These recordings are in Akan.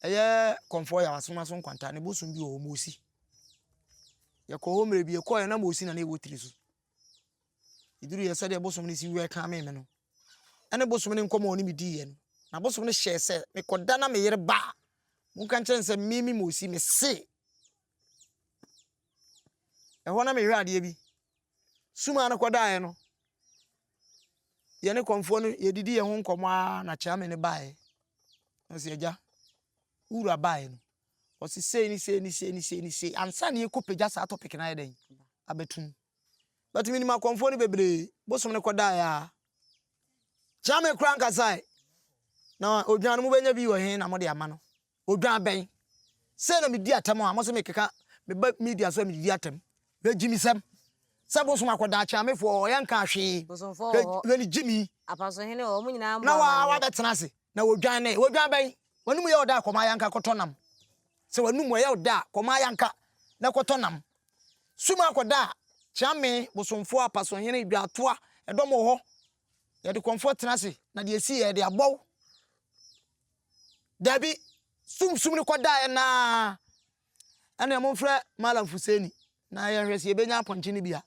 Ɛyɛ kɔmfoɔ yɛ asono aso nkwanta ne bosom bi wɔ hɔ mosi yɛkɔ hɔ mmerɛ bi yɛkɔɔ yɛ na mosi na ne ɛwɔ tiri so ɛduru yɛ sɛdeɛ bosom no si wɛ kan me me no ɛne bosom no nkɔmɔ ne medii yɛ no na bosom no hyɛɛ sɛ mekɔda na meyere ba a monka nkyɛn sɛ mimi mosi me se ɛhɔ na mehwɛ adeɛ bi sumaa no kɔdaeɛ no yɛne kɔmfoɔ no yɛdidi yɛn ho nkɔmmɔ ara na kyame no baeɛ na ɔsi agya wura baeɛ no ɔsi sei ne sei ne sei ne sei ne sei ansa ne yɛkɔ pagya saa topic no ayɛ dɛn abɛtum but menim akɔmfoɔ no bebree bosom no kɔdaeɛ a kyame kora nkasae na odwan no mobɛnya bi wɔ he na mode ama no Odwan bɛn? Sɛ na medi atɛm a, mo se mekeka meba media so a medidi atɛm. Hwɛ gyimisɛm! Sɛ bosom akɔ daakye a me foɔ hɔ, yɛnkaa hwee. Bosomfoɔ wɔ hɔ. Hwɛ ne gyimi! Apasohene wɔ hɔ, mo nyinaa mmɔ amanneɛ. Na wabɛtena ase, na wodwan ne. Odwan bɛn? W'anomu yɛ wo dɛ a, kɔma ay'anka kɔtɔ nam. Sɛ w'anomu ɛyɛ wo dɛ a, kɔma ay'anka na kɔtɔ nam. Sum akɔ da a, kyeame, bosomfoɔ, apasohene, dwaatoa, ɛdɔm wɔ hɔ. Yɛde kɔmfoɔ tena ase, na deɛ ɛsi yɛ, yɛde abɔ wo. Dabi, sumsum no kɔdaeɛ no ara. Ɛnna momfrɛ Malam Fuseini na yɛnhwɛ sɛ yɛbɛnya apɔnkye no bi a.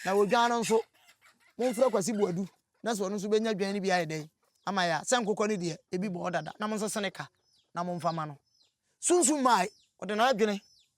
Na odwan no nso, momfrɛ Kwasi Boadu na sɛ ɔno nso bɛnya dwan no bi ayɛ dɛn ama yɛn a. Sɛ nkokɔ no deɛ, ebi bɔ hɔ dada. Na monsese ne ka na momfa mma no. Sunsum mae, ɔde n'adwene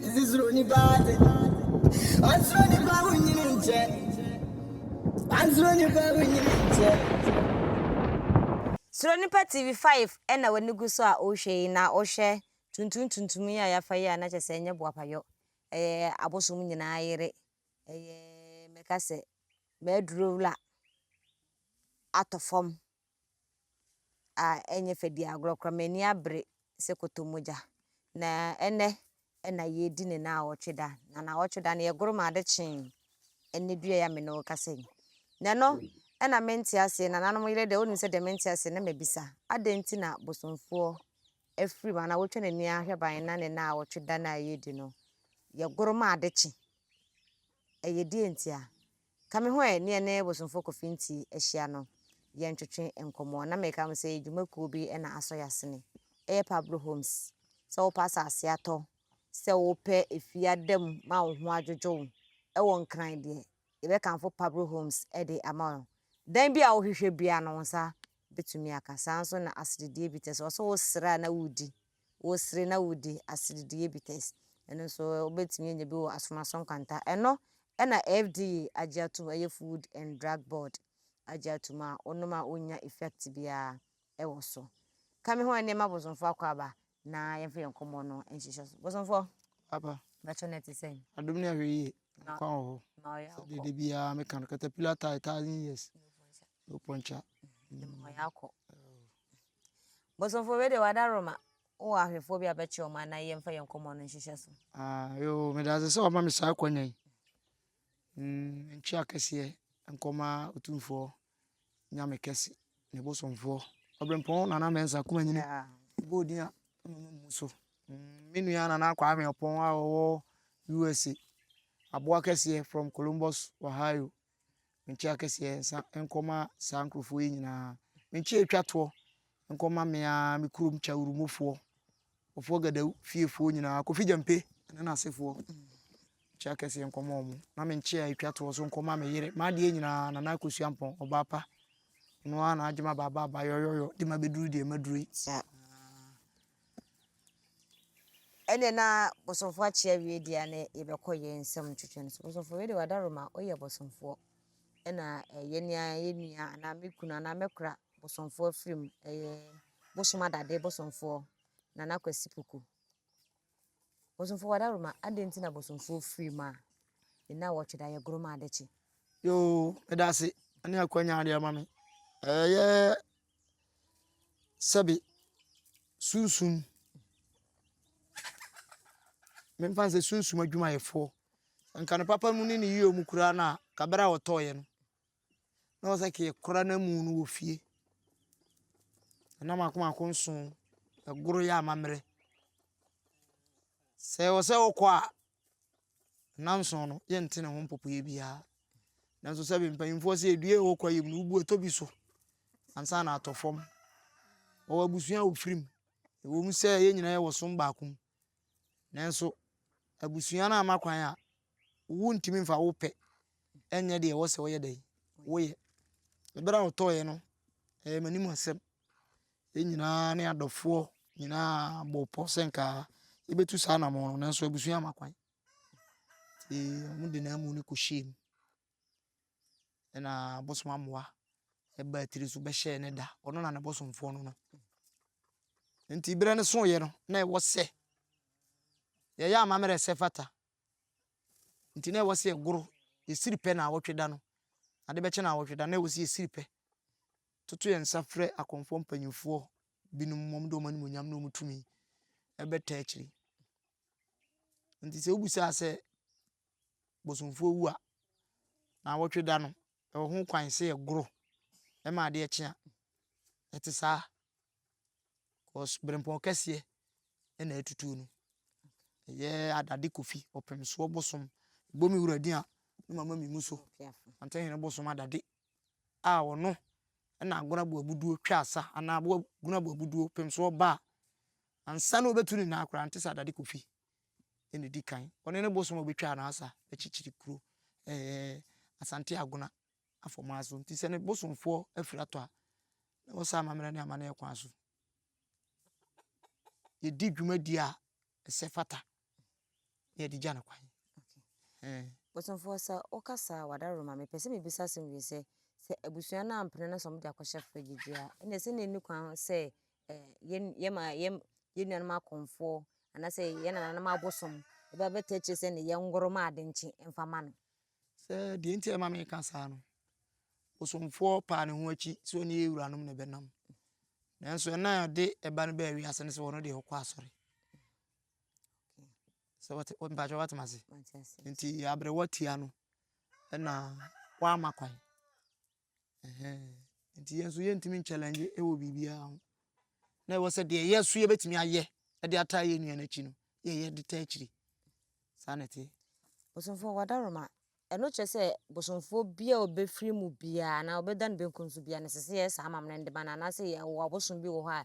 Dze suro nipa adze. Ɔnnsuro nipa ho nyini nkyɛ. Ɔnnsuro nipa ho nyini nkyɛ. Suro nipa TV five na w'ani gu so a wohwɛ yi na wohwɛ tuntum tuntum yi a yɛafa yi a na kyerɛ sɛ ɛnyɛ boapayɔ. Ɛyɛ abosom nyinaa yere. Ɛyɛ mɛka sɛ mɛduro wura atɔ fam. a ɛnyɛ fɛ di agorɔ koraa. M'ani abere sɛ kɔtɔmogya. Na ɛnnɛ na yɛredi ne naawɔtwe da. Na naawɔtwe da no, yɛgoro maa ade kyee ɛnnɛ dua yi a me ne wo rekasa yi. Na ɛno na mente aseɛ. Nananom yere deɛ, wonim sɛ deɛ mente aseɛ na mabisa. Adɛn nti na bosomfoɔ afiri mu anaa watwa n'ani ahwɛ ban na ne naawɔtwe da no a yɛredi no, yɛgoro ma ade kye? Ɛyɛ deɛ ntia? Ka me ho ɛ ne yɛne Bosomfoɔ Kofi Nti ahyia no yɛ ntwetwe nkɔmmɔ na meka ho sɛ yɛ dwuma kuo bi na asɔ yɛ asene ɛyɛ Pablo Homes sɛ wopɛ asase atɔ sɛ wopɛ efie ada mu ma wo ho adwodwo wo ɛwɔ Nkran deɛ yɛbɛkamfo Pablo Homes de ama wo dan bi a wohwehwɛ biara no wo nsa bɛtumi aka saa nso na aseredeɛ bi tɛ sɛ ɔsɛ wo sere a na wodi wosere na wodi aseredeɛ bites. Ɛno nso wobɛtumi anya bi wɔ Asomaso Nkwanta. Ɛno na FDA agye atom, ɛyɛ Food and Drug Board agye atom a wonom a wonnya effect biara wɔ so. Ka me ho ɛnneɛ ma Bosomfoɔ akɔ aba na yɛmfa yɛn nkɔmmɔ no nhyehyɛ so. Bosomfoɔ, Aba, bɛkyɛ no ɛte sɛn? adom ne ahwɛyie, nkwa wɔ hɔ. Na ɔyɛ Sɛ awokɔ. dede biara meka no, caterpillar tie thousand years. Lopɔnkya. Mmɔyɛ akɔ. Bosomfo wei de wada Roma. Wowɔ ahwɛfoɔ bi a bɛkyerɛ wɔn anaa yɛmfa yɛn nkɔmmɔ no nhyehyɛ so. Ah, yoo, meda ase sɛ wama me saa akwanya yi. Mm, ntwe akɛseɛ nkɔma otumfoɔ nyame kɛse ne bosomfoɔ. Ɔbrempɔn nana mɛnsa kuma nyini. Bɔ odin a mama mu so. Mm, me nua nana akɔ ahwɛ ɔpɔn a wɔwɔ USA. Aboa kɛseɛ from Columbus, Ohio. Menkye akɛseɛ nsa nkɔma saa nkurɔfoɔ yi nyinaa. Menkye atwa toɔ nkɔma me ara me kurom Kyawurumufoɔ, Ɔfoɔ Gadau fiefoɔ nyinaa, Kofi Gyampe ne n'asefoɔ. Menkye akɛseɛ nkɔma wɔn. Na menkye a atwa toɔ so nkɔma me yere, m'adeɛ nyinaa, Nana Akosua Ampɔn, ɔbaa pa. Ɔno ara na agye ma baaba aba yɔyɔyɔ de ma bɛduru deɛ maduru yi. Saa. Ɛnneɛ na bosomfoɔ akye awie deɛ a na yɛbɛkɔ yɛn nsɛm twetwe no so. Bosomfoɔ wei de wadaro ma woyɛ bosomfoɔ. Ɛna ɛyɛ nea yɛ nua anaa me kunu anaa mɛkora bosomfoɔ afiri mu. Ɛyɛ bosom adade bosomfoɔ Nana Kwasi Poku. Bosomfoɔ wadaro ma adɛn nti na bosomfoɔ firi mu a nna wɔtwe da yɛ goroma adekye. Yoo, meda ase ne akwanya adeɛ ama me. Ɛyɛ sɛbe sunsum, memfa no sɛ sunsum adwumayɛfoɔ, nka ne papa mu ne ne yere mu koraa no a, ka berɛ a wɔtɔeɛ no, na wɔ sɛ ka yɛkora no amu no wɔ fie. Ɛna mako mako nson, ɛgoro yɛ amammerɛ. Sɛ wɔ sɛ wokɔ a, Nnanson no, yɛnte ne ho mpopoeɛ biara. Nanso sɛbe mpanyimfoɔ sɛ edua a ɛwɔ kwaeɛm no, wobu ɛtɔ bi so ansa na atɔ fam. Wɔwɔ abusua a wɔfiri mu. Ɛwom sɛ yɛn nyinaa yɛwɔ som baako mu, nanso abusua no amma kwan a, wontumi mfa wo pɛ nyɛ deɛ ɛwɔ sɛ woyɛ dɛn? Woyɛ. Bere a ɔtɔeɛ no, ɛyɛ m'anim asɛm. Yɛn nyinaa ne adɔfoɔ nyinaa bɔɔ pɔ sɛ nka yɛbɛtu saa anamɔ no nanso abusua ama kwan nti wɔn de n'amu no kɔhyɛɛ mu ɛna bosom amoa ɛbaa tiri so bɛhyɛɛ ne da ɔno na ne bosomfoɔ no no nti berɛ no soeɛ no na ɛwɔ sɛ yɛyɛ amammerɛ sɛ fata nti na ɛwɔ sɛ ɛgoro yɛsiri pɛ na awɔtwe da no ade bɛkyɛ na awɔtwe da na ɛwɔ sɛ yɛsiri pɛ Toto yɛn nsa frɛ akɔmfoɔ mpanimfoɔ binom ma wɔde wɔn animuonyam ne wɔn tumi bɛta akyiri. Nti sɛ wobisaa sɛ bosomfoɔ wu a, na awɔtwe da no, ɛwɔ ho kwan sɛ yɛgoro ma adeɛ kye a, ɛte saa. Because berempɔn kɛseɛ na atutuo no. Ɛyɛ adade kofi, ɔpemsoɔ bosom, bomi wura din a, ne mama mi mu so. Antehene bosom adade a ɔno na Agonaboa Abuduo twaa sa anaa Agonaboa Abuduo pem so ɔba a, ansa na ɔbɛtu ne nnan koraa no, te sɛ Adade Kofi na ɛdi kan. Ɔne ne bosom a ɔbɛtwaa no asa bɛkyekyere kuro eh, Asante Agona afɔmaa so. Nti sɛ ne bosomfoɔ afiri atɔ a, na wɔsa amammerɛ ne amanneɛ kwan so. Yɛdi dwumadie a ɛsɛ fata na yɛde gya no kwan. Bosomfoɔ sɛ wokasa a wadaworo ma me pɛ sɛ mebisa asɛm wie sɛ sɛ abusua no ampene no sɛ wɔde akɔhyɛ fridge a ɛna sɛ na ɛni kwan sɛ yɛma yɛn nuanom akɔmfoɔ anaasɛ yɛn nananom abosom ɛbɛbɛtɛ akyire sɛ ne yɛn ngoro ma ade nkye mfa ma no Sɛ deɛ nti a ɛma meka saa no, bosomfoɔ paa ne ho akyi sɛ ɔne yɛn wuranom na ɛbɛnam. Nanso ɛna a ɔde ɛba no baa wiase no sɛ ɔno deɛ ɔkɔ asɔre. Sɛ wɔte mpakyɛ wɔatem ase. Nti aberewa tia no ɛna wɔama kwan. Ɛhɛn, nti yɛn nso yɛntumi nkyɛlɛngye wɔ biribiara ho. Na ɛwɔ sɛ deɛ yɛn nso yɛbɛtumi ayɛ de ataa yɛn nua no akyi no, yɛyɛ de taa akyiri. Saa na ɛteɛ. Bosomfoɔ wadaroma. Ɛno kyerɛ sɛ bosomfoɔ bi a ɔbɛfiri mu biara anaa ɔbɛda ne benkum so biara no ɛsɛ sɛ yɛyɛ saa amammerɛ no de ma no anaasɛ yɛwɔ abosom bi wɔ hɔ a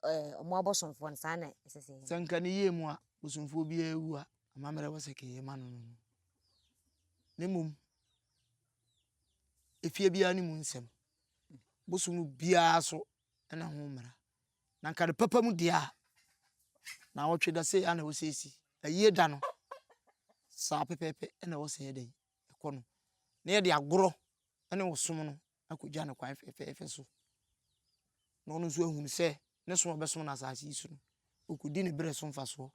ɛɛ wɔn abosomfoɔ no saa na ɛsɛ sɛ yɛyɛ. Sɛ nka ne yie mu a bosomfoɔ biara awu a amammerɛ wɔ sɛ kɛyɛ ma no no no. Ne mmom efie biara no mu nsɛm. Bosom no biara so na ho mmara. Na anka no papa mu deɛ a, naawɔtwe da sei na ɛwɔ sɛ ɛsi. Ayie da no, saa pɛpɛɛpɛ na ɛwɔ sɛ ɛyɛ dɛn? Ɛkɔ no. Na yɛde agorɔ ne ɔsom no akɔgya no kwan fɛfɛɛfɛ so. Na ɔno nso ahunu sɛ ne som a ɔbɛsom no asase yi so no, ɔkɔdi ne berɛ so mfasoɔ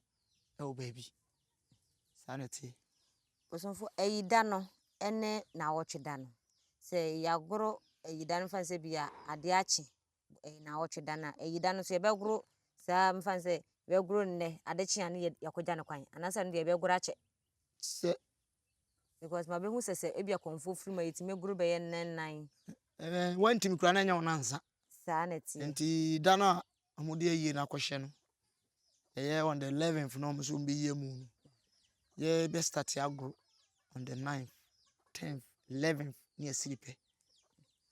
wɔ baabi. Saa na ɛteɛ. Bosomfo ayida no ne naawɔtwe da no. Sɛ yɛagoro ayida no, mfa no sɛ bi a ade akye, ɛyɛ naawɔtwe da no a, ayida no nso yɛbɛgoro saa mfa no sɛ yɛbɛgoro nnɛ, ade kye a ne yɛakɔgya no kwan anaasɛ ɛno deɛ yɛbɛgoro akyɛ. Sɛ. Because mabɛhu sɛ sɛ ebi akɔmfoɔ firi mu a yɛtumi goro bɛyɛ nnɛ nnan. Ɛɛ wɔntumi koraa na ɛnyɛ wɔn ansa. Saa na ɛteɛ. Nti da no a wɔde ayie no akɔhyɛ no, ɛyɛ on the eleventh na wɔn nso bɛyi amu no. Yɛbɛ start agoro on the ninth, tenth, eleventh ne ɛsiri pɛ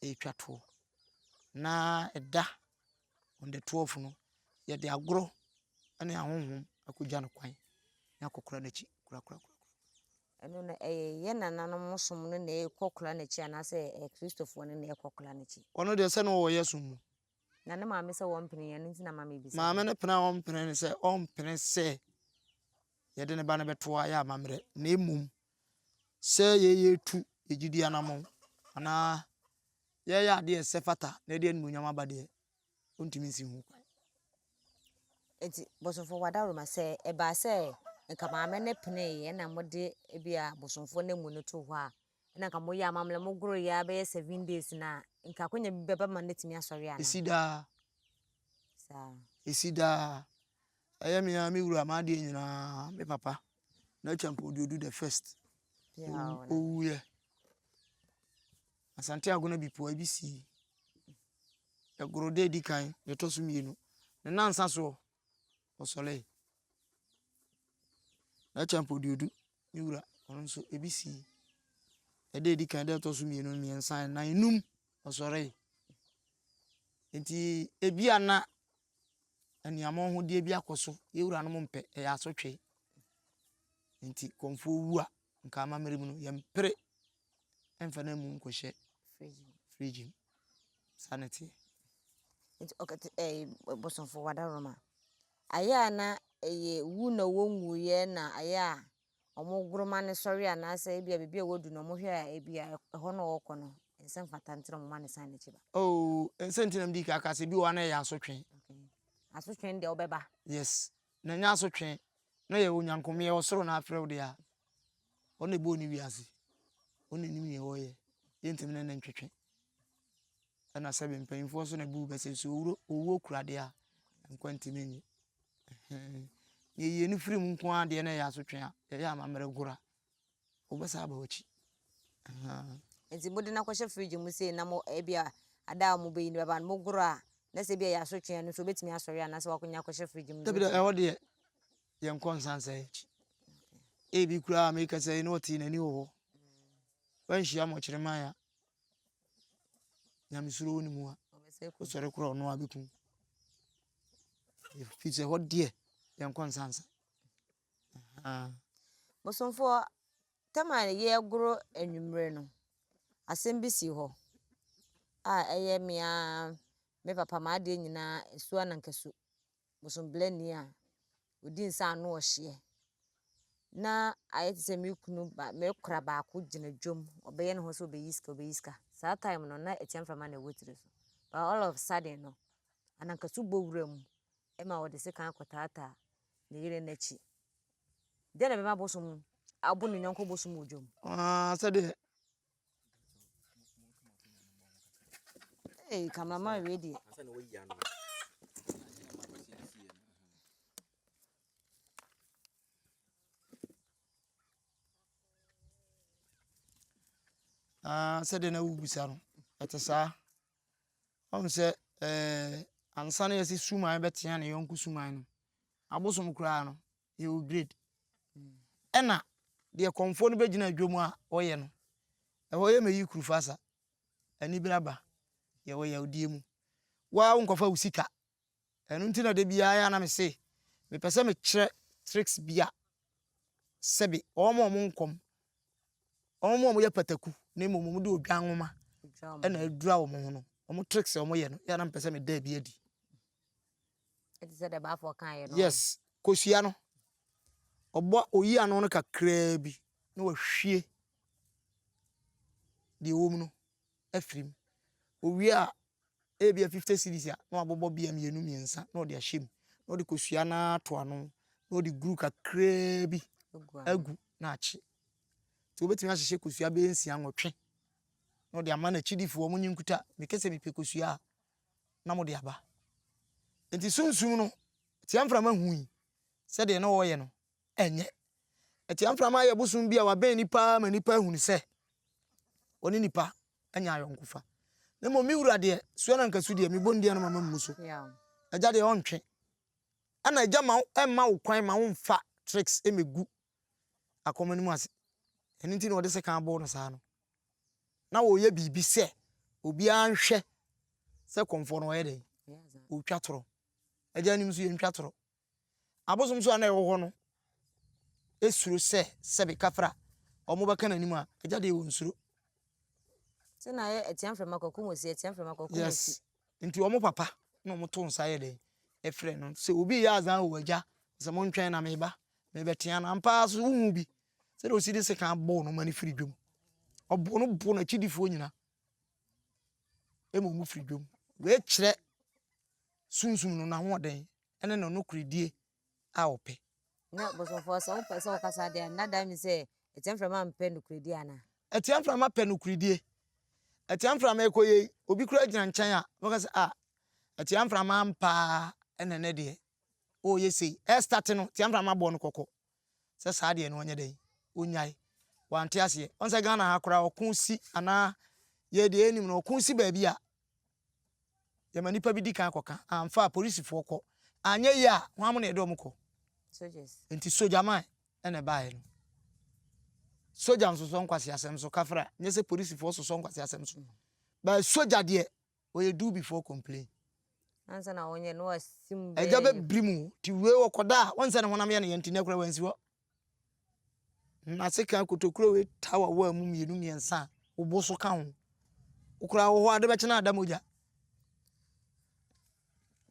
ɛretwa toɔ. Na ɛda on the twelve no yɛde agorɔ ne ahonhom akɔgya no kwan na akɔkora no akyi korakora. ɛno no ɛyɛ yɛn nananom som no na ɛkɔkora no akyi anaasɛ ɛyɛ Kristofoɔ no na ɛkɔkora no akyi? Ɔno deɛ sɛ na ɔwɔ yɛ som mu. Na ne maame sɛ wɔmpene yɛn, ɛno nti na maame bisa. Maame no pene a ɔmpene ne sɛ ɔmpene sɛ yɛde ne ba no bɛto ayɛ amammerɛ na mmom sɛ yɛyɛ tu yɛgyidi anamɔn anaa yɛyɛ adeɛ ɛsɛ fata na ɛde animuonyam aba deɛ ɔntumi nsi ho kwan. Nti bosomfo wadaroma sɛ ɛbaa sɛ nka maame no peneeɛ na mode ebi a bosomfo no mu no to hɔ a na nka moyɛ amammerɛ mogoroe ara bɛyɛ seven days no a, nka akwanya bi bɛba ma no atumi asɔre anaa? Ɛsi daa. Saa. Ɛsi daa. Ɛyɛ me ara me wura m'adeɛ nyinaa, me papa, Nacha Mpoduodu the first. Ɔwuiɛ. Asante Agona Bipua bi sii. Ɛgoro da ɛdi kan, deɛ ɛtɔ so mmienu. Ne nnansa soɔ, ɔsɔree. Nacha Mpoduodu Me wura, ɔno nso, ebi sii. Ɛda a edi kan, ɛda a ɛtɔ so mmienu, mmiɛnsa, nnan, nnum, ɔsɔree. Enti ebia na aniamɔ ho deɛ bi akɔ so. Yɛn wuranom mpɛ, ɛyɛ asotwe. Enti kɔmfoɔ wu a, nka amammerɛ mu no, yɛmpere. ɛmfa no amu nkɔhyɛ fridge mu. Saa na ɛteɛ. Nti ɔkɛte ɛɛ bosomfo wadaroma. Ayɛ a na ɛyɛ wu na wɔnwuiɛ na ayɛ a wɔgoroma no sɔre anaasɛ ebi a biribi a wɔadu na wɔhwɛ a ebi a ɛhɔ na ɔrekɔ no ɛnsɛ mfata nti na wɔma no san n'akyi ba. Oo ɛnsɛ nti na mede kaka sɛ bi wɔ hɔ a na ɛyɛ asotwe. Asotwe deɛ ɔbɛba. Yes. na nya asotwe na yɛ onyankomyɛ ɔsoro na afrɛ wo de a, ɔno na ɛbɔɔ ne wiase. Ɔno na ɛnim neɛ ɔyɛ. Yɛntumi ne ne ntwetwe. Ɛna sɛbe mpanyimfoɔ so na ɛbu bɛ sɛ nso owuro owuo kura deɛ a, nkwa ntumi nye. Neɛ yɛyi ani firi mu nko ara deɛ na ɛyɛ asotwe a, yɛyɛ amammerɛ gora. wɔbɛsan aba w'akyi. Ahaa. Nti mode no akɔhyɛ fridge mu sei na mo ebi a ada a wɔbɛyi no bɛba no mogoro a na sɛ ebi a yɛasotwe no nso obetumi asɔre anaasɛ wakɔnya akɔhyɛ fridge mu. Dabi da ɛhɔ deɛ yɛn kɔ nsan sɛ akyi. Ebi koraa a meka sɛ yi na ɔte n'ani wɔ hɔ. Wanhyia mo kyerɛ man a nyamesuro wɔ ne mu a ɔsɔre kora ɔno a bɛkum. Firi sɛ ɛhɔ deɛ yɛn kɔ nsan sɛ. Bosomfoɔ, tam a yɛregoro anwummerɛ no, asɛm bi sii hɔ a ɛyɛ me ara me papa m'adeɛ nyinaa su anankasu, bosonbelani a ɔdi nsa ano ɔhyeɛ na ayɛ te sɛ me kunu ba me kora baako gyina dwam, ɔbɛyɛ ne ho sɛ ɔbɛyi sika ɔbɛyi sika. Saa time no na ɛkyɛ mframa na ɛwɔ tiri so but all of a sudden no anankasu bɔ wuram ma ɔde sekan kɔtaataa. ne yere no akyi. Dɛn na ɛbɛma bosom abo ne yɔnko bosom wɔ dwam? Ah, sɛdeɛ. Hey, cameraman wei deɛ. Ah, sɛdeɛ na wobisa no ɛte saa Ɔhu sɛ ɛɛ ansa na yɛsɛ suman bɛtea ne yɔnko suman no abosom koraa no he will grade ɛna deɛ kɔmfoɔ no bɛgyina adwam a ɔyɛ no ɛhɔ yɛ mɛyi kurufasa anibere aba yɛwɔ yawdie mu waa wo nkɔfa wo sika Ɛno nti na da biara a na me se mepɛ sɛ me kyerɛ tricks bi a sɛbe wɔn a wɔn nkɔm, wɔn a wɔyɛ pataku na mmom wɔn de odwan nwoma na adura wɔn ho no, wɔn tricks a wɔyɛ no, yɛ na mepɛ sɛ me da bi adi. Ɛte sɛ deɛ baafo kan yɛ no. Yes, kosua no. Ɔbɔ oyi ano no kakraa bi na wahwie deɛ ɛwɔ mu no. afiri mu. Ɔwie a, ebia fifty cedis a, na wabobɔ bea mmienu mmiɛnsa na ɔde ahyɛ mu, na ɔde kosua no ara to ano, na ɔde guru kakraa bi agu na akye. Nti wobɛtumi ahyehyɛ kosua bɛyɛ nsia, nwɔtwe na ɔde ama n'akyidifoɔ, wɔn nye nkuta, meka sɛ mepɛ kosua a, na mode aba. Nti sunsum no, Tiamframa hui sɛdeɛ na ɔreyɛ no, Ɛnyɛ. Atua mframa yɛ bosom bi a wabɛn nnipa ma nnipa ahunu sɛ ɔne nnipa anya ayɔnkofa. Na mmom me wura deɛ, soɛ na nka su deɛ, me bɔndeɛ no ma mammu so. Agya deɛ ɔntwe. Ɛna agya ma ɛmma wo kwan ma womfa tricks mmɛgu akɔma no mu ase. Ɛno nti na ɔde sekan aboo no saa no. Na ɔreyɛ biribi sɛ obiara nhwɛ sɛ kɔmfoɔ no ɔyɛ dɛn? Ɔretwa torɔ. Agya anim nso yɛntwa torɔ. Abosomsom a na ɛwɔ hɔ no suro sɛ sɛbe kafra a wɔbɛka n'anim a, agya deɛ wɔnsuro. Sɛ na ayɛ atia mframa kwaku mosi, atia mframa kwaku yes. mosi. Nti wɔn papa na wɔn to nsa yɛ dɛn ɛfrɛ no sɛ obi yɛ azan o agya sɛ mo ntwɛn na meba mebɛtea no ampa ara so wohu bi sɛdeɛ ɔsi de sekan bɔɔ no ma no firi dwam ɔbɔ no bo n'akyidifoɔ nyina ɛma ɔmu firi dwam wei kyerɛ sunsum no n'ahoɔden ne no nokorɛdie a wɔpɛ. Na bosomfoɔ, sɛ wopɛ sɛ wokasa deɛ, na dan mi sɛ atia mframa mpɛ nokorɛdie anaa? Atia mframa pɛ nokorɛdie. Atia mframa ɛkɔ yei, obi kura gyina nkyɛn a, wobɛka sɛ a, atia mframa ampaa ɛna ɛnɛ deɛ, ɔreyɛ sei. Ɛrestate no, atia mframa bɔɔ no kɔkɔ. sɛ saa deɛ no ɔnyɛ dɛn ɔnyae wante aseɛ ɔn sɛ Ghana ha koraa ɔko si anaa yɛ deɛ yɛnim no ɔko si baabi a yɛma nipa bi di kan kɔka amfa a polisifoɔ kɔ anyɛ yie a wɔn amo na yɛde wɔn kɔ nti sogyaman ɛna ɛbaeɛ no sogya nsosɔ nkwasi asɛm so kafra nyɛ sɛ polisifoɔ sosɔ nkwasi asɛm so baa sogya deɛ Wɔyɛ do before complain. Ansa na wɔnyɛ no asim bɛyɛ. Agya bɛbiri mu ti wei wɔ kɔda a wɔnsɛ ne honam yɛ ne yɛ nti na kura wɔnsi hɔ. N'ase ka kotokuro wei ta wɔ wɔ mu mmienu mmiɛnsa a wobo so ka ho. Wokura wɔ hɔ ade bɛkyena ada mogya.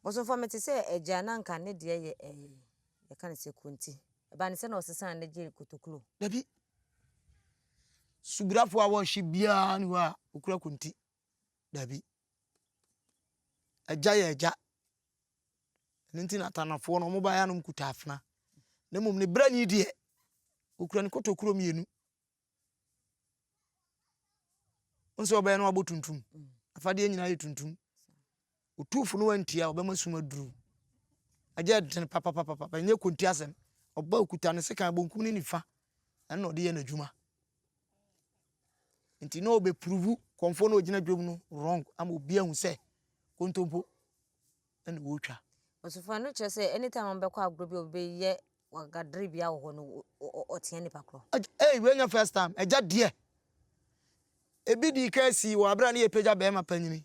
Bɔsomfo mete sɛ agya na nka ne deɛ yɛ ɛɛ eh, yɛka ne sɛ konti. Ɛbaa ne sɛ na ɔsesa ne gye kotokuro. Dabi. Subirafo a wɔhye biara ne hɔ a wokura konti. Dabi. Agya yɛ agya. Ɛno nti na Atanafoɔ no wɔbaeɛ a na wɔkuta afena. Na mmom ne brani deɛ, ɔkura ne kotokuro mmienu. Wo sɛ ɔbɛyɛ no abɔ tuntum. Afadeɛ nyinaa yɛ tuntum. Otumfo no antie a, ɔbɛma sum aduru. Agya dene papapapapa, ɛnyɛ konti asɛm. Ɔba okuta ne sekan bonkum ne nifa, ɛno na ɔde yɛ n'adwuma. Nti na ɔbɛpuruvu kɔmfoɔ na ɔgyina dwam no wrong ama obi ahu sɛ kontompo ɛna wɔretwa. Ɔsofo no kyerɛ sɛ anytime a ɔbɛkɔ agorɔ bi a ɔbɛyɛ wagadere bia wɔ hɔ no ɔtea nipa korɔ. Ɛyi wei nyɛ first time, agya deɛ. Ebi dii kan sii wɔ abere a ne yɛpagya bɛrima panyini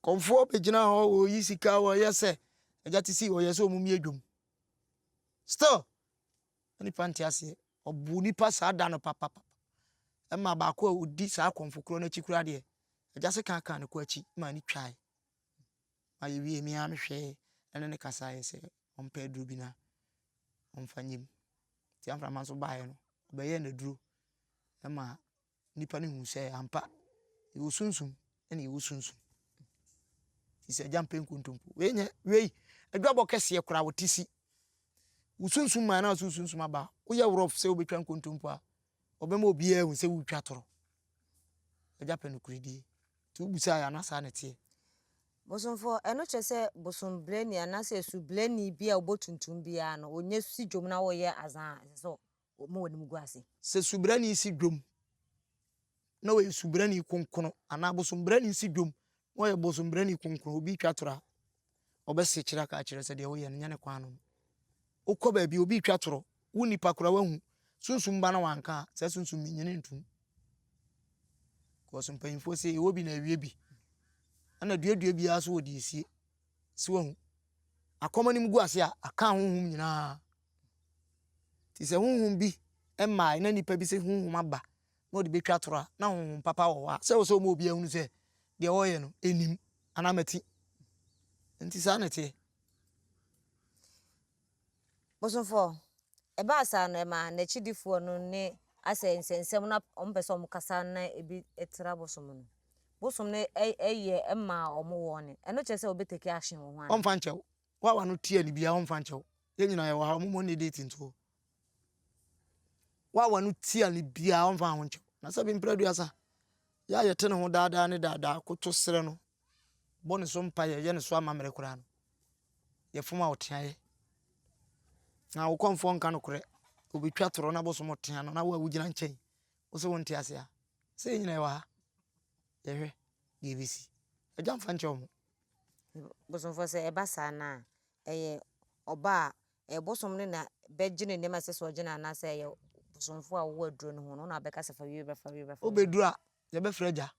Kɔmfoɔ bɛgyina hɔ wɔyi sika wɔyɛ sɛ agya te si wɔyɛ sɛ wɔn adwom still na nipa nte aseɛ ɔbu nipa saa da no papapa ɛma baako a ɔdi saa kɔmfo korɔ no akyi koraa deɛ agya se kankan ne kɔ akyi ma ne twae ma yɛwie me ara mehwɛɛ ɛne ne kasaeɛ sɛ ɔmpɛ aduro bi na ɔmfa nyem nti amframa nso baeɛ no ɔbɛyɛɛ n'aduro ɛma nnipa no hu sɛ ampa yɛwɔ sunsum ɛna yɛwɔ sunsum ti sɛ agya mpɛ nkontompo wei nyɛ wei adwabɔ kɛseɛ koraa wɔte si wo sunsum maa na so sunsum aba woyɛ worɔ sɛ wobɛtwa nkontompo a ɔbɛma obiara hu sɛ wotwa toro agya pɛ nokorɛdie nti wobusaa yɛ ana saa na ɛteɛ bosomfoɔ ɛno kyerɛ sɛ bosombrɛni anaasɛ subrɛni bi a wɔbɔ tuntum biara no wɔnyɛ si dwom na wɔyɛ azan ɛsɛ sɛ Wɔma wɔn anim gu ase. Sɛ subrani si dwom, na ɔyɛ subrani kronkron, anaa bosombrani si dwom, na ɔyɛ bosombrani kronkron, obi retwa toro a, ɔbɛsekyere aka akyerɛ sɛ deɛ woyɛ no nyɛ ne kwan no. Wokɔ baabi, obi retwa toro, wo nipa koraa woahu, sunsum ba na wanka a, saa sunsum no nyini ntom. Because mpanyinfoɔ se ɛwɔ bi na ɛwie bi, ɛna duadua biara so wɔ deɛ esie. Si wahu, akɔm anim gu ase a, aka ahonhom nyinaa. Nti sɛ honhom bi mmae na nnipa bi sɛ honhom aba na ɔde bɛtwa atoro a, na honhom papa wɔ hɔ a, sɛ wɔ sɛ ɔma obiara hunu sɛ deɛ ɔreyɛ no ɛnim anaa mati. Nti saa na ɛteɛ. Bosomfoɔ, ɛbaa saa no ɛma n'akyidifoɔ no ne asɛ nsɛnsɛm na wɔn pɛ sɛ wɔn kasa na ebi tra bosom no. Bosom no ɛyɛ ɛma wɔn wɔn ne. Ɛno kyerɛ sɛ wɔbɛtake action wɔ ho ana? Ɔmfa nkyɛw. Wo a w'ano tua no biara ɔmfa nkyɛ wo. Yɛn nyinaa yɛwɔ ha, wɔn mmɔ ne date nto hɔ. Wo a w'ano tua no biara ɔmfa ho nkyɛ wo. Na sɛ bi mpere aduasa, yɛ a yɛte ne ho daadaa ne daadaa, koto srɛ no, bɔ ne so mpaeɛ, yɛ ne so amammerɛ koraa no, yɛfom a ɔteaeɛ. Na wo kɔmfoɔ nka nokorɛ, ɔbɛtwa torɔ na bosom ɔtea no, na wo a wogyina nkyɛn, wo sɛ wonte ase a, sɛ yɛn nyinaa yɛwɔ ha, yɛhwɛ deɛ ɛbɛsi. Agya mfa nkyɛ wɔn. Bosomfoɔ sɛ ɛba saa no a, ɛyɛ ɔba a ɛyɛ bosom no na bɛgye ne nneɛma a ɛsɛ sɛ ɔgye no anaasɛ ɛyɛ bosomfoɔ a ɔwɔ aduro no ho no na ɔbɛka sɛ fa wie bra fa wie bra fa wie. wobɛduru a yɛbɛfrɛ agya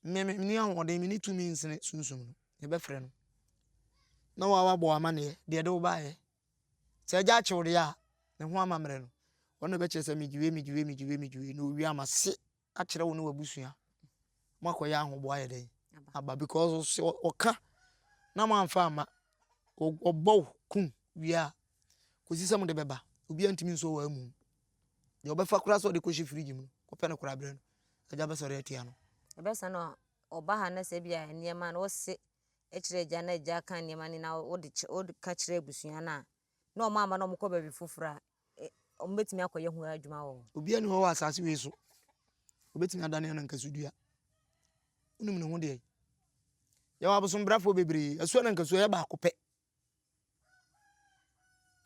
me menni ahoɔden menni tumi nsene sunsum no yɛbɛfrɛ no na wabɔ w'amanneɛ deɛ ɛde wo baeɛ sɛ agya akye wo deɛ a ne ho amammerɛ no ɔno na ɛbɛkyerɛ sɛ megye wei megye wei megye wei megye wei na ɔwie ama se akyerɛ wo ne w'abusua mo akɔyɛ ahoboa ayɛ dɛn aba because sɛ ɔka na moamfa amma ɔbɔ wo kum wie a kɔsi sɛ mode bɛba obiara ntumi nso wɔ amu deɛ ɔbɛfa koraa sɛ ɔde kɔhyɛ firigye mu no kɔpɛ no koraa berɛ no agya bɛsɔre atia no ɛbɛsa no ɔba ha na sɛ bia nneɛma no wose kyerɛ agya na agya ka nneɛma no na wode ka kyerɛ abusua no a na ɔma ama na ɔmokɔ baabi foforɔ a eh, ɔmo bɛtumi akɔyɛ ho adwuma wɔ hɔ. Obiara ni hɔ wɔ asase wei so. Obɛtumi adane anankaso dua. Wonim ne ho deɛ. Yɛwɔ abosombrafoɔ bebree. Asuo anankaso ɛyɛ baako pɛ.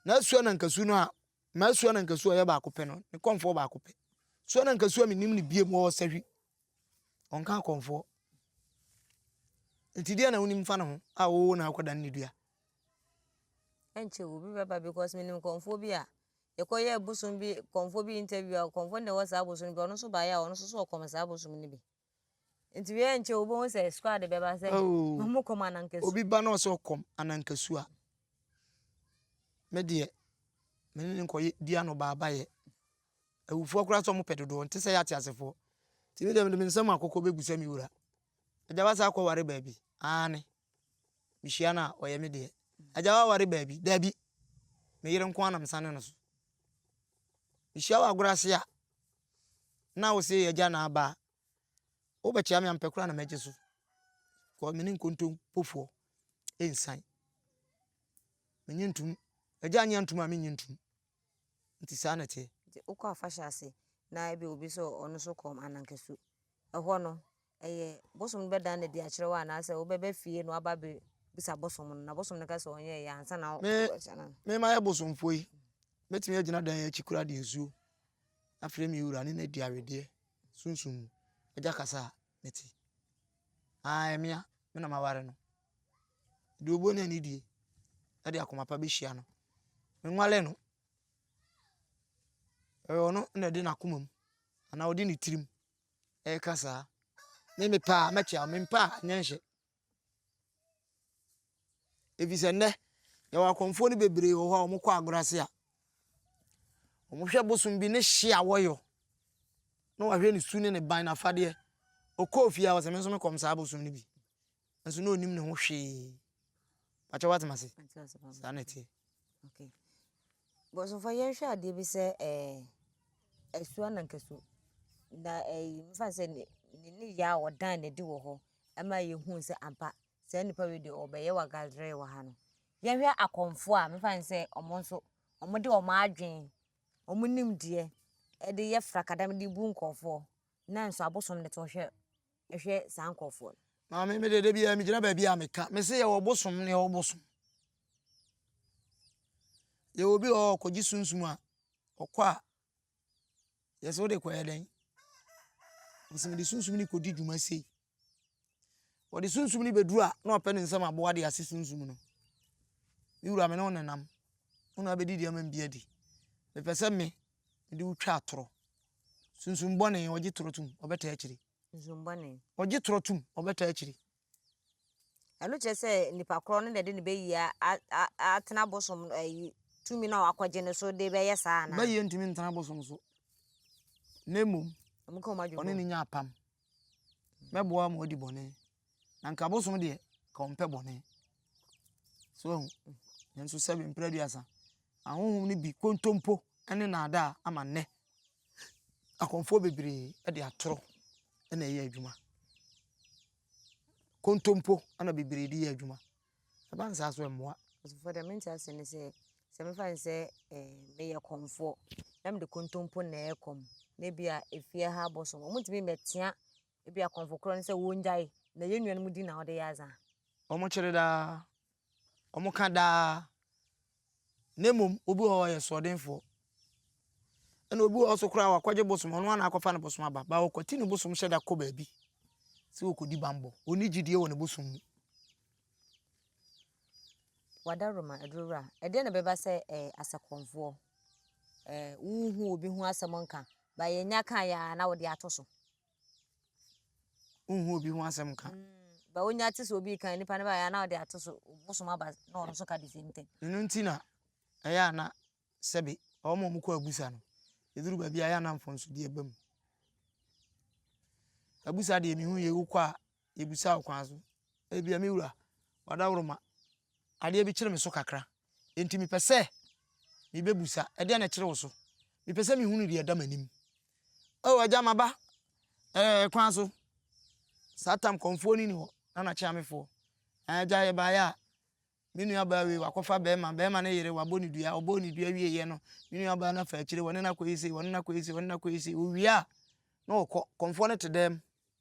Na asuo anankaso no a, ma asuo anankaso a ɛyɛ baako pɛ no, ne kɔnfoɔ baako pɛ. Asuo anankaso a menim ne biem wɔ Ɔsahwi Ɔnka akɔmfoɔ. Nti deɛ na wonim fa ne ho a wɔwɔ na akɔda ne dua. Ɛnkyɛ obi bɛba because menim kɔmfoɔ bi a yɛkɔyɛ bosom bi kɔmfoɔ bi interview a kɔmfoɔ no na ɛwɔ saa bosom bi ɔno nso baeɛ a ɔno nso so ɔkɔm saa bosom no bi. Nti wei ɛnkyɛ wobɛhu sɛ squad bɛba sɛ oh. ɔmo kɔm anankasu. Obi ba na ɔsɛ ɔkɔm anankasu a me deɛ me ne nkɔyɛ di ano baabayɛ. Awufoɔ koraa sɛ wɔpɛ dodoɔ nte sɛ yɛ ateasefoɔ. Nti me deɛ mede me nsam akokɔ bɛgu sɛ me wura. Agya wasa akɔ ware baabi? Aane. Mehyia no a ɔyɛ me deɛ. Agya waware baabi? Dabi. Me yere nko ara na mesane no so. Mehyia wɔ agorɔ ase a na wo se yɛ agya na aba a wobɛkyea me a mepɛ koraa na mɛgye so. Kɔ me ne nkontompofoɔ ɛnsan. Menye ntom. Agya nye antom a menye ntom. Nti saa na ɛteɛ. Nti wokɔ afahyɛ ase na ebia obi sɛ ɔno nso kɔ Anankesu. Ɛhɔ no, ɛyɛ bosom no bɛdan no adi akyerɛ wo anaasɛ wobɛba fie na waba abɛbisa bosom no na bosom no ka sɛ ɔnyɛeɛ ansa na wobɛkyɛ no? Me, me mayɛ bosomfoɔ yi, mɛtumi agyina dan yi akyi koraa de nsuo afrɛ me wura ne no adi awedeɛ sunsum mu. Agya kasa a mete. Aa, ɛmea, me na maware no. Deɛ ɔbɔ no anidie de akoma pa bɛhyia no, menwale no. Ɛyɛ ɔno na ɔde n'akomam anaa ɔde ne tirim reka saa. Me mepɛ a, mɛkyea wo, mempɛ a, nyɛ nhyɛ. Ɛfiri sɛ nnɛ, yɛwɔ akɔmfoɔ no bebree wɔ hɔ a, wɔkɔ agorɔ ase a, wɔhwɛ bosom bi ne hye a wɔyɔ na wɔahwɛ ne su ne ne ban, n'afadeɛ. Ɔkɔɔ fie a, ɔse, me nso mekɔm saa bosom no bi. nso na ɔnim ne ho hwee pakyɛ woatem ase saa na ɛteɛ okay bɔsomfa yɛnhwɛ adeɛ bi sɛ ɛɛ ɛso anankaso na ɛyi eh, mefa sɛ ne ne yɛ a ɔdan na ɛde wɔ hɔ ɛma yɛhu sɛ ampa saa nipa wei deɛ ɔbɛyɛ wagadrɛ wɔ ha no yɛhwɛ akɔmfoɔ a mefa sɛ ɔmo nso ɔmo de ɔmo adwene ɔmo nimdeɛ ɛde yɛ frakadam de bu nkɔfoɔ nanso abosom de to hwɛ hwɛ saa nkorɔfoɔ no. Maame me deɛ da biara megyina baabi a meka me se yɛwɔ bosom ne yɛwɔ bosom yɛwɔ obi wɔ hɔ ɔkɔgye sunsum a ɔkɔ a yɛsɛ wode kɔyɛ dɛn ɔsɛ mede sunsum ne kɔdi dwuma sei wɔde sunsum ne bɛduru a na ɔpɛ ne nsɛm aboa de ase sunsum no me wura me ne wo nenam wo na abɛdi deɛ ma mbi adi mepɛ sɛ me Mede wo twa atorɔ. Sunsum bɔne, ɔgye torɔ tom, ɔbɛtaa akyire. Sunsum bɔne. Ɔgye torɔ tom, ɔbɛtaa akyire. Ɛno kyerɛ sɛ nipa korɔ no na ɛde ne bɛyie atena bosom ayi tumi na wakɔgye no so de bɛyɛ saa anaa? Bɛyie ntumi ntena bosom so. Na mmom, ɔne ne nya apam. Mɛboa ma wadi bɔne. Na nka abosom deɛ, nka ɔmpɛ bɔne. So ahu, nanso sɛbe mprɛ aduasa, ahonhom no bi kontompo ne naadaa ama nnɛ. Akɔmfoɔ bebree de atoro na ɛyɛ adwuma. Kontompo na bebree de yɛ adwuma. Ɛba nsaa so mmoa. Ɔsofo dɛ mente ase ne sɛ sɛ mefa ne sɛ meyɛ kɔmfoɔ na mede kontompo na ɛkɔm na bi a efie ha abosom wɔn ntumi mmɛtea Ebia kɔmfo korɔ no sɛ wɔngyae na yɛn nuanom din na wɔde yɛ adze a. Wɔkyere daa, wɔka daa, na mmom obi wɔ hɔ ɔyɛ soɔdenfoɔ. Ɛna obi wɔ hɔ nso koraa wakɔgye bosom, ɔno ara na akɔfa ne bosom aba. Ba ɔkwati ne bosom hyɛ da kɔ baabi sɛ ɔkɔdi bammɔ. Ɔnni gyidie wɔ ne bosom mu. Wadaroma Adurowura, ɛdeɛn na ɛbɛba sɛ ɛɛ asɛkɔmfoɔ ɛɛ wohu obi ho asɛm nka ba yɛnya kaeɛ a na wode ato so. wonhu obi ho asɛm ka mm, ba wonya te sɛ obi kan nipa no bɛyɛ na ɔde ato so bosom aba na ɔno nso ka the same thing ɛno nti na ɛyɛ a na sɛbe wɔn a wɔkɔ abusa no ɛduru baabi a ɛyɛ a na mfomsodeɛ ba mu abusa deɛ mehu yɛ wokɔ a yɛbisa wo kwan so. Ebia me wura, w'adaworoma, adeɛ bi kyere me so kakra, enti mepɛ sɛ mebɛbisa, ɛdeɛn na ɛkyere wo so? Mepɛ sɛ mehunu deɛ ɛda m'anim. O agya, maba ɛɛ kwan so. Saa tam kɔmfoɔ no nni hɔ, na n'akyeamefoɔ. Agya, yɛbaeɛ a, me nuabaa wei, wakɔfa bɛrima, bɛrima no yere, wabɔ ne dua, ɔbɔɔ ne dua wieeɛ no, me nuabaa no afa akyire, wɔne no akɔyɛ sei, wɔne no akɔyɛ sei, wɔne no akɔyɛ sei, ɔwie a, na ɔkɔ, kɔmfoɔ no te dɛm.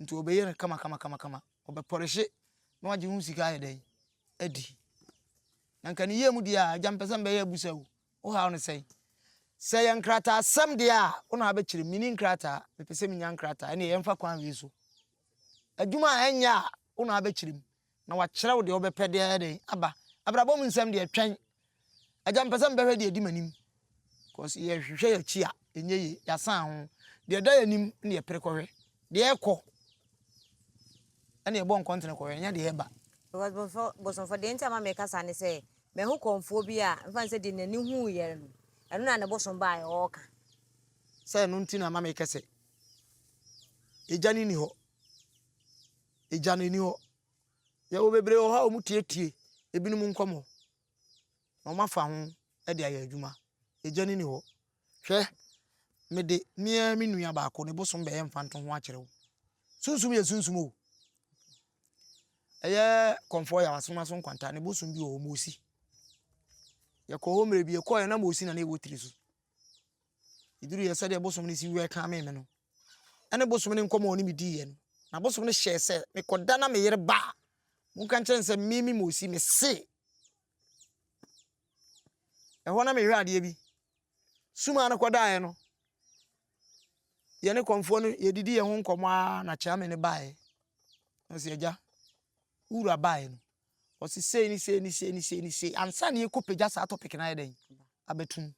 nti wɔbɛyɛ no kamakamakama, wɔbɛpɔlehye na wɔagye ho sika ayɛ dɛn? Adi. Na nka ne yie mu deɛ a, agya mpɛ sɛ mbɛyɛ abusa o, wohaw no sɛn? Sɛ yɛ nkrataasɛm deɛ a, wo na wabɛkyerɛ mu, menni nkrataa, mepɛ sɛ menya nkrataa, ɛnneɛ yɛmfa kwan wei so. Adwuma a ɛnyɛ a, wo na wabɛkyerɛ mu. Na wakyerɛw deɛ wobɛpɛ de ayɛ dɛn? Aba. Abrabɔ mu nsɛm deɛ twɛn. Agya mepɛ sɛ mebɛhwɛ deɛ ɛdi m'anim. Cause yɛhwehwɛ yɛn akyi a, ɛnyɛ yie. Yɛasan ho. Deɛ ɛda yɛn anim na yɛpere kɔhwɛ. Deɛ ɛrekɔ na yɛbɔ nkɔntene kɔhwɛ, ɛnyɛ deɛ ɛreba. Because bosomfo, bosomfo, deɛ nti a ma meka saa ne sɛ, mahu kɔmfoɔ bi a, mfa no sɛ deɛ n'ani huiɛ no, ɛno na ne bosom baeɛ ɔreka. Sɛ ɛno nti na ama mekɛ sɛ, Agya no nni hɔ. Agya no nni hɔ. Yɛwɔ bebree wɔ hɔ a wɔtietie ebinom nkɔmmɔ na wɔafa ho de ayɛ adwuma. Agya no nni hɔ. Hwɛ, mede me ara me nua baako ne bosom bɛyɛ mfantoho akyerɛ wo. Sunsum yɛ sunsum o. Ɛyɛ kɔmfoɔ yɛ asoma so nkwanta ne bosom bi wɔ hɔ, Mosi. Yɛkɔɔ hɔ mmerɛ bi, yɛkɔeɛ na Mosi na na ɛwɔ tiri so. Ɛduruiɛ sɛdeɛ bosom no si wɛlkame me no, ɛne bosom no nkɔmmɔ a ɔne me diiɛ no, na bosom no hyɛɛ sɛ mekɔda na me yere ba a, monka nkyerɛ no sɛ me me Mosi mese. Ɛhɔ na mehwɛ adeɛ bi. Suma no kɔdaeɛ no, yɛne kɔmfoɔ no yɛdidi yɛn ho nkɔmmɔ ara na Kyame no baeɛ. Ɔsi agya, wura baeɛ no. Wɔse sei ne sei ne sei ne sei ne sei ansa na yɛkɔ pagya saa topic no ayɛ dɛn abɛto mu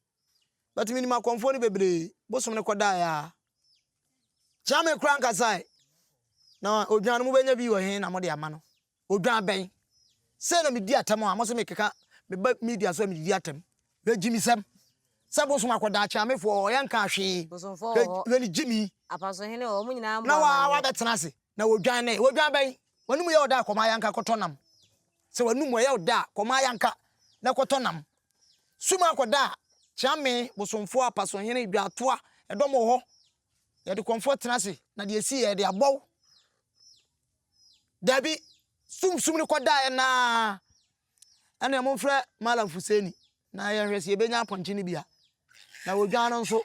but menim akɔmfoɔ no bebree bosom no kɔdaeɛ a kyame kora nkasae na odwan no mobɛnya bi wɔ he na mode ama no odwan bɛn sɛ na medi atɛm a mo se mekeka meba media so a medidi atɛm Hwɛ gyimisɛm sɛ bosom akɔ daakye amefoɔ hɔ yɛnkaa hwee Bosomfoɔ wɔ hɔ, hwɛ ne gyimi apasohene wɔ hɔ, wɔn nyinaa mmɔ na wa amanneɛ. wabɛtena ase na wɔdwan nɛ wɔdwan bɛn w'anum yɛ wo dɛ a kɔmaa yanka kɔtɔ nam sɛ w'anum ɔyɛ wo dɛ a kɔmaa yanka na kɔtɔ nam sum akɔ da a kyea me bosomfoɔ apasohene dwaatoa ɛdɔm wɔ hɔ yɛde kɔmfoɔ tena ase na deɛ ɛsi yɛde abɔ wo daabi sum sum no kɔ daeɛ naa Ɛneɛ momfrɛ Mallam Fuseni na yɛnhwɛ sɛ yɛbɛnya apɔnkye no bi a. Na odwan no nso,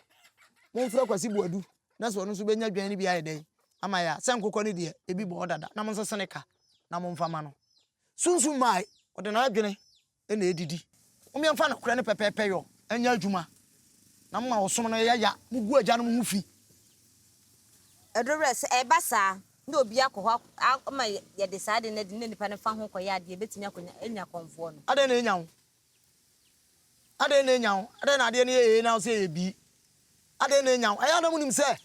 momfrɛ Kwasi Boadu na sɛ ɔno nso bɛnya dwan no bi ayɛ dɛn ama yɛn a. Sɛ nkokɔ no deɛ, ebi bɔ hɔ dada. Na monsese ne ka na momfa mma no. Sunsum Mai, ɔde n'adwene na ɛdidi. Mom yɛmfa nokorɛ ne pɛpɛɛpɛ yɔ nyɛ adwuma na moma ɔsom no yɛ ya. Mogu agyanom ho fi. Ɛduru berɛ sɛ ɛba saa. na obi akɔ hɔ ama yɛde saa ade no adi no na nipa no fa ho kɔyɛ adeɛ a, ɛbɛtumi akɔnya anya kɔmfoɔ no. Adɛn na enya wo? Adɛn na enya wo? Adɛn na adeɛ no yɛ ee na wo sɛ ɛyɛ bii? Adɛn na enya wo? Ɛyɛ a na monim sɛ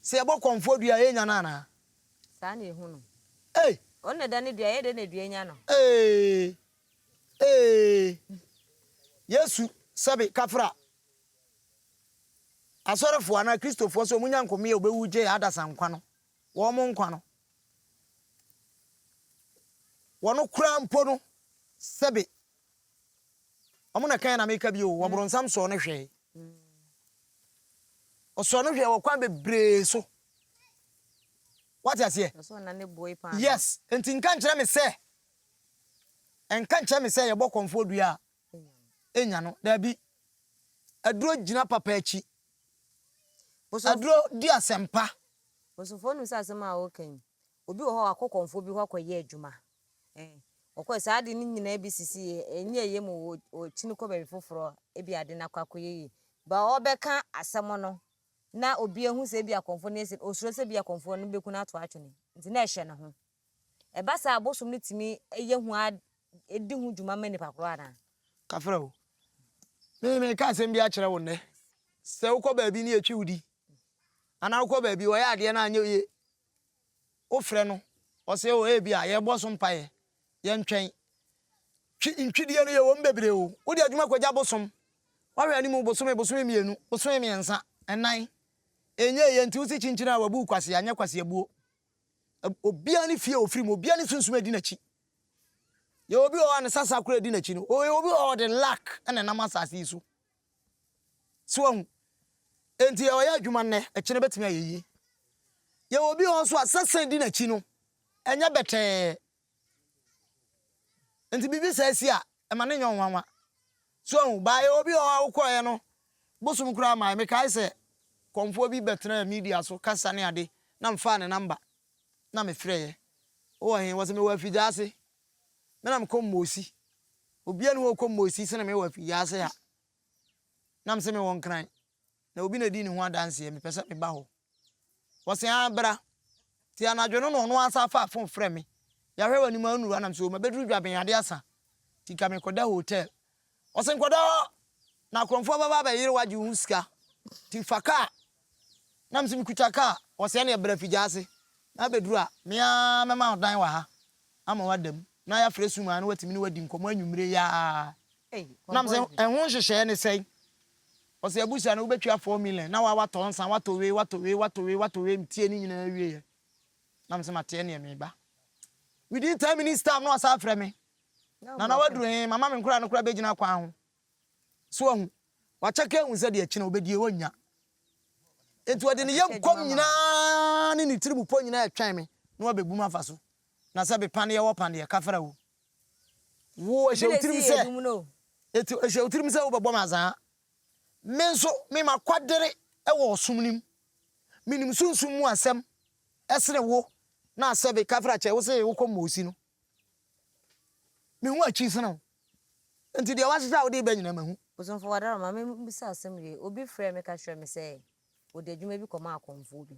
sɛ yɛbɔ kɔmfoɔ dua a, ɛrenya no anaa? Saa na ɛhu no. Ei! Ɔno na ɛdane dua, ɛyɛ dɛn na dua nya no? Ee! Ee! Yesu sɛbe kafra Asɔrefoɔ anaa Kristofoɔ sɛ wɔn nya nkɔmeɛ a wɔbɛwu gyee adasa nkwa no, wɔn nkwa no, wɔn koraa mpo no, sɛbe, wɔn na kan na meka bi o, wɔbronsam sɔɔ no hwɛe. Ɔsɔɔ no hwɛe wɔ kwan bebree so. Wate aseɛ? Yes, nti nka nkyerɛ me sɛ, nka nkyerɛ me sɛ yɛbɔ kɔmfoɔ dua a, nya no. Dabi. Aduro gyina papa akyi. Aduro di asɛmpa. Bosofoɔ nim sɛ asɛm a woka yi obi wɔ hɔ wakɔ kɔmfoɔ bi hɔ akɔyɛ adwuma eh ɔkɔɛ saa ade no nyinaa bi sisi ɛnyɛ ɛyɛ mu ɔkyini kɔ baabi foforɔ ebi ade no akɔ akɔyɛ yi ba ɔbɛka asɛm no na obi ahu sɛ ebi akɔmfoɔ no yɛ sɛ osuro sɛ ebi akɔmfoɔ no bɛku no ato atwene nti na ɛhyɛ ne ho Ɛba saa a, abosom no tumi yɛ hu ara di ho dwuma ma nnipa koro anaa? Kafra o. Me, meka asɛm bi akyerɛ wo nnɛ. Sɛ wokɔ baabi ne yɛtwi wo di, anaa wokɔ baabi wɔyɛ adeɛ no anyɛ yie, wofrɛ no, ɔse o ebi a yɛbɔ so mpaeɛ, yɛntwɛn. Twi, ntwidie no yɛwɔ mu bebree o. Wode adwuma kɔgya bosom. Woahwɛ anim bosome, bosome mmienu, bosome mmiɛnsa, nnan, ɛnyɛeɛ nti wose kyinkyin a wabu wo kwasea, nyɛ kwaseabuo. Obiara ne fie a ofiri mu, obiara ne sunsum a edi n'akyi. Yɛ obi wɔ hɔ a ne sasa koro edi n'akyi no, ɔyɛ obi wɔ hɔ ɔde luck na ɛnam asase yi so. So wɔn enti ɔyɛ adwuma nnɛ, ɛkyɛ no betumi ayɛ yie. Yɛ obi wɔ hɔ nso a sasa edi n'akyi no, ɛnyɛ bɛtɛɛ. Nti biribi saa si a, ɛma no nyɛ wo nwanwa. So ahu? Baayɛ obi wɔ hɔ a wokɔeɛ no, bosom koraa mmaeɛ. Mekae sɛ kɔmfoɔ bi bɛtenaa media so kasa ne ade na mefaa ne namba na mefrɛeɛ. Wowɔ he? Wɔse mewɔ Afigyaase. Me na mekɔ Mmoosi. Obiara nni hɔ a ɔkɔ Mmoosi sene me wɔ Afigyaase ha. Na mese mewɔ Nkran. na obi na edi ne ho adanseɛ, mepɛ sɛ meba hɔ. Wɔse aa bra. Nti anadwo no na ɔno ara san faa fon frɛ me. Yɛahwɛ w'anim a ɔnnuru a, na mese o mabɛduru Dwaben ade asa nti ka mekɔda hotel. Ɔse nkɔda hɔ na akorɔmfoɔ bɛba abɛyere wo agye wo ho sika nti fa kaa. Na mese mekuta kaa. Ɔse ɛneɛ bra fi gya ase na bɛduru a me ara mɛma wo dan wɔ ha ama woada mu na yɛafrɛ Suman na watumi ne wo adi nkɔmmɔ anwummere yi ara. Na mese ɛho nhyehyɛeɛ ne sɛn? Ɔsɛ abusua no wobɛtua four million na woa woatɔ nsa woatɔ wei woatɔ wei woatɔ wei woatɔ wei metie ne nyinaa wieɛ na mesɛ mateɛ neɛ meba within ten minutes time na wasan afrɛ me Nana waduru he mama me nkoraa no koraa bɛgyina kwan ho so wahu wakyɛke ahu sɛ deɛ akyi na wobɛdie wɔnnya nti ɔde ne yam kɔm nyinaa ne ne tiri mu pɔ nyinaa ɛtwɛn me na wabɛbu m afa so Na sɛ bi paneɛ wɔ paneɛ kafra wo wo ɛhyɛ wo tirim sɛ ɛti ɛhyɛ wo tirim sɛ wo bɛbɔ me azaa me nso me ma kwadere ɛwɔ ɔsom nim me nim sunsum mu asɛm ɛsene wo na sɛ bi kafra kyɛ wo sɛ wo kɔ mɔsi no me hu akyi sene wo nti deɛ wahyehyɛ a wode bɛ nyina ma hu. Osomfo Wadaro ma me bisa asɛm wie obi frɛ me ka kyerɛ me sɛ ɔde adwuma bi kɔma akɔmfoɔ bi.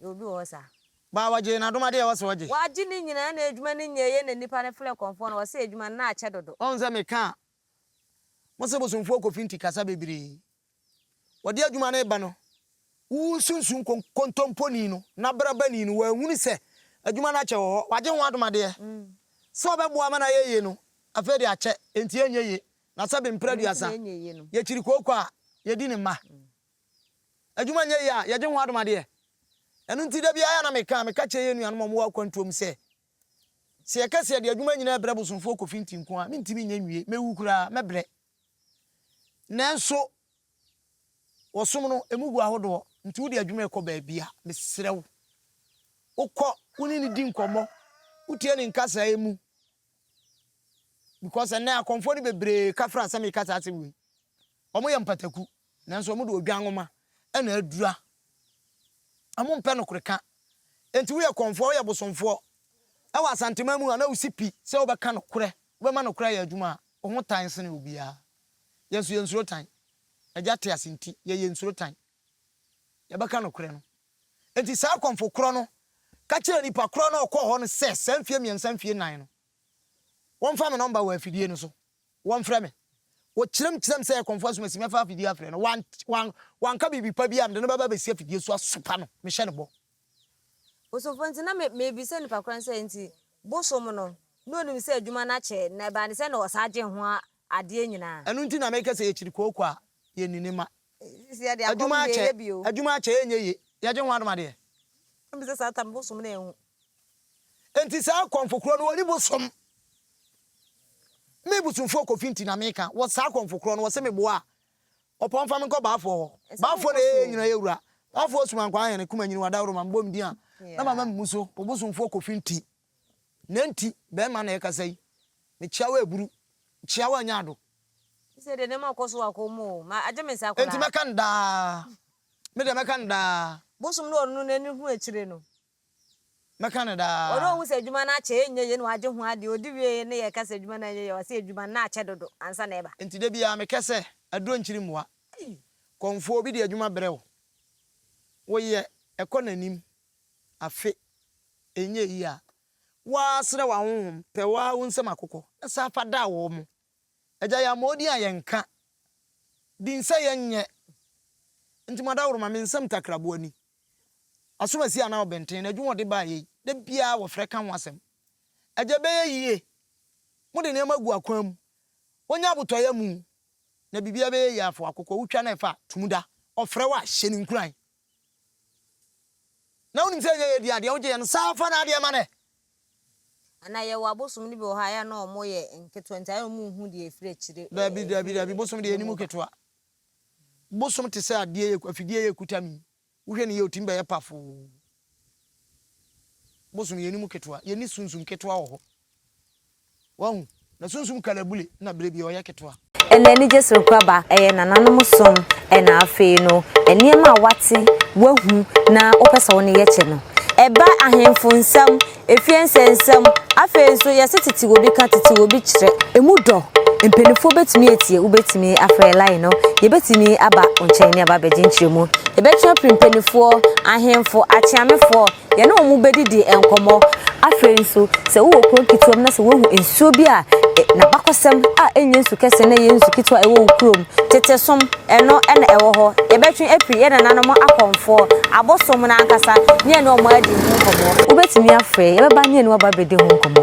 Yɛ obi wɔ hɔ saa. Baa wɔgyee n'adom adeɛ a ɔse ɔgye. Wagye ne nyinaa na adwuma no nyɛ yie na nnipa no frɛ kɔmfoɔ no ɔse adwuma no na akyɛ dodo. Ɔhu sɛ meka a mo se bosomfoɔ kɔ finti kasa bebree wɔde adwuma no reba no wowu nsunsun kontomponi no n'abrabani no wanhunu sɛ adwuma no akyɛ wɔ hɔ wagye ho adom adeɛ sɛ ɔbɛboa ma no ayɛ yie no afei de akyɛ enti ɛnyɛ yie na sɛbe mprɛ aduasa yɛkyiri kooko a yɛdi ne mma. Adwuma nyɛ yie a, yɛgye ho adomadeɛ. Ɛno nti, da biara na meka a, meka kyerɛ yɛn nuanom a wɔwɔ akwantuo mu sɛ, sɛ yɛka sɛ yɛde adwuma nyinaa rebrɛ bosomfoɔ Kofinti nko a, mentumi nyɛ nwie. Mɛwu koraa, mɛbrɛ. Nanso, wɔ som no, ɛmu gu ahodoɔ. Nti wode adwuma rekɔ baabi a, mesrɛ wo, wokɔ, wo ne no di nkɔmmɔ, wotie ne nkasaeɛ mu. Because ɛnnɛ, akɔmfoɔ no bebree ka fra sɛ meka saa asɛm wei. Wɔyɛ mpataku. Nanso wɔde odwan nwoma na adura. Wɔmpɛ nokore ka. Enti woyɛ kɔmfoɔ, woyɛ bosomfoɔ wɔ Asanteman mu a na wosi pi sɛ wobɛka nokorɛ, wobɛma nokorɛ ayɛ adwuma a, wo ho tan sene obiara. Yɛn nso yɛnsuro tan. Agya te ase nti, yɛn yɛnsuro tan. Yɛbɛka nokorɛ no. Enti saa kɔmfo korɔ no ka kyerɛɛ nipa korɔ no a ɔkɔɔ hɔ no sɛ saa mfeɛ mmiɛnsa mfeɛ nnan no, wɔmfa me nɔmba wɔ afidie no so. Wɔmfrɛ me. Wɔkyerɛmkyerɛm sɛ ɛyɛ kɔmfoɔ asomasi mɛfa afidie afrɛ no. Wan, wan, wanka biribi pa biara a mede no bɛba abɛsi afidie so asopa no. Mehyɛ no bɔ. Osomfo nti na me, merebisa nnipa koro no sɛ nti bosom no, na ɔnim sɛ adwuma no akyɛ, na ɛbaa ne sɛ na ɔsan gye ho adeɛ nyinaa. Ɛno nti na meka sɛ yɛkyiri kooko a, yɛnni ne mma. Sisi yɛde akɔm Adwuma deɛ akyɛ, yɛyɛ bio. adwuma akyɛ, ɛnyɛ yie. Yɛgye ho adomadeɛ. Ɛmbi sɛ saa tam bosom no anhu. Enti saa akɔmfo korɔ no wɔne mo som. Me bosunfoɔ Kofi nti na meka, wɔ saa akɔmfo korɔ no wɔse me boa a, ɔpɔn fa me nkɔ baafoɔ hɔ. Baafoɔ na ɛyɛ yɛn nyinaa wura. Baafoɔ sum ankwaa hene, kuma nyini wa daworo ma me bɔ me din a na mama me mu so, wo bosunfoɔ Kofi nti. Nɛ nti bɛɛma na ɛkasa yi, me kyeawa ɛburu, kyeawa anya ado. Nti sɛ deɛ nɛɛma ɔkɔ so wɔ akɔm mu o, ma agye me nsa koraa. Enti mɛka no daa, me deɛ mɛka no daa. Bosom ne ɔno no nani hu akyire no. Mɛka no daa. Wɔn a wɔhu sɛ adwuma no akyɛ, ɛnyɛ yie na wɔagye ho adeɛ, wɔdi wieɛ na yɛka sɛ adwuma no anyɛ yie a, wɔse adwuma no na akyɛ dodo ansa na ɛba. Enti da biara mekɛ sɛ, Aduro nkyiri mmoa. Kɔmfoɔ, obi de adwuma brɛ wo, woyɛ, ɛkɔ n'anim, afe, ɛnyɛ yie a, woasrɛ w'ahonhom, pɛ wo ara wo nsam akokɔ, na san fa da wɔn. Agya yɛ ama ɔdin a yɛnka, din sɛ yɛnyɛ, nti Madaworo ma me nsam takraboa ni, Asomasi anaa Ɔbɛnten na adwuma a ɔde baeɛ yi, da biara wɔfrɛ ka ho asɛm. Agya ɛbɛyɛ yie, mode nneɛma agu akwan mu, wɔnya abotɔeɛ amu, na biribiara bɛyɛ yie afoa kɔkɔɔ wotwa na ɛfa a, tum da, ɔfrɛ wo a, hyɛ no nkuran. Na wonim sɛ ɛnyɛ yɛ dea, deɛ wogyeeɛ no, san fa n'adeɛ ma no ɛ. Ana yɛwɔ abosom no bi wɔ hɔ a ɛyɛ a na ɔmo yɛ nketewa nti ayɛ a ɔmo nhu deɛ ɛfiri akyire ɛɛ Daabi, daabi, daabi, bosom deɛ ɛnim mu ba. ketewa. Bosom te sɛ adeɛ yɛ, afidie yɛ kuta mi. Wohwɛ no yie a ɔtumi bɛyɛ pafoo. Bosom yɛnim mu ketewa, yɛne sunsum ketewa wɔ hɔ. Wahu? Na sunsum kalabule na bere bi ɔyɛ ketewa. Ɛna anigye serekoraba, ɛyɛ nananom som, ɛna afei no nneɛma a wate, wahu, na wopɛ sɛ wo ne yɛ kyɛ no. Ɛba ahemfo nsam, efie nsɛnsɛm, afei nso yɛse tete obi ka, tete obi kyerɛ. Emu dɔ, mpaninfoɔ bɛtumi atie, wobɛtumi afrɛ line no, yɛbɛtumi aba wo nkyɛn ne aba abɛgye nkyerɛmu, yɛbɛtwe apiri mpaninfoɔ, ahemfo, akyeamefoɔ, Yɛne wɔn bɛdidi nkɔmmɔ. Afei nso, sɛ wowɔ kuro nketewa mu na sɛ woahu nsuo bi a n'abakɔsɛm a ɛnyɛ nsu kɛseɛ na ɛyɛ nsu ketewa a ɛwɔ wo kurom, tete som, ɛno na ɛwɔ hɔ. Yɛbɛtwe afiri yɛn nananom akɔmfoɔ, abosom no ankasa, ne yɛne wɔn adi ho nkɔmmɔ. Wobɛtumi afrɛ yɛn, yɛbɛba ne yɛne wo aba abɛdi ho nkɔmmɔ.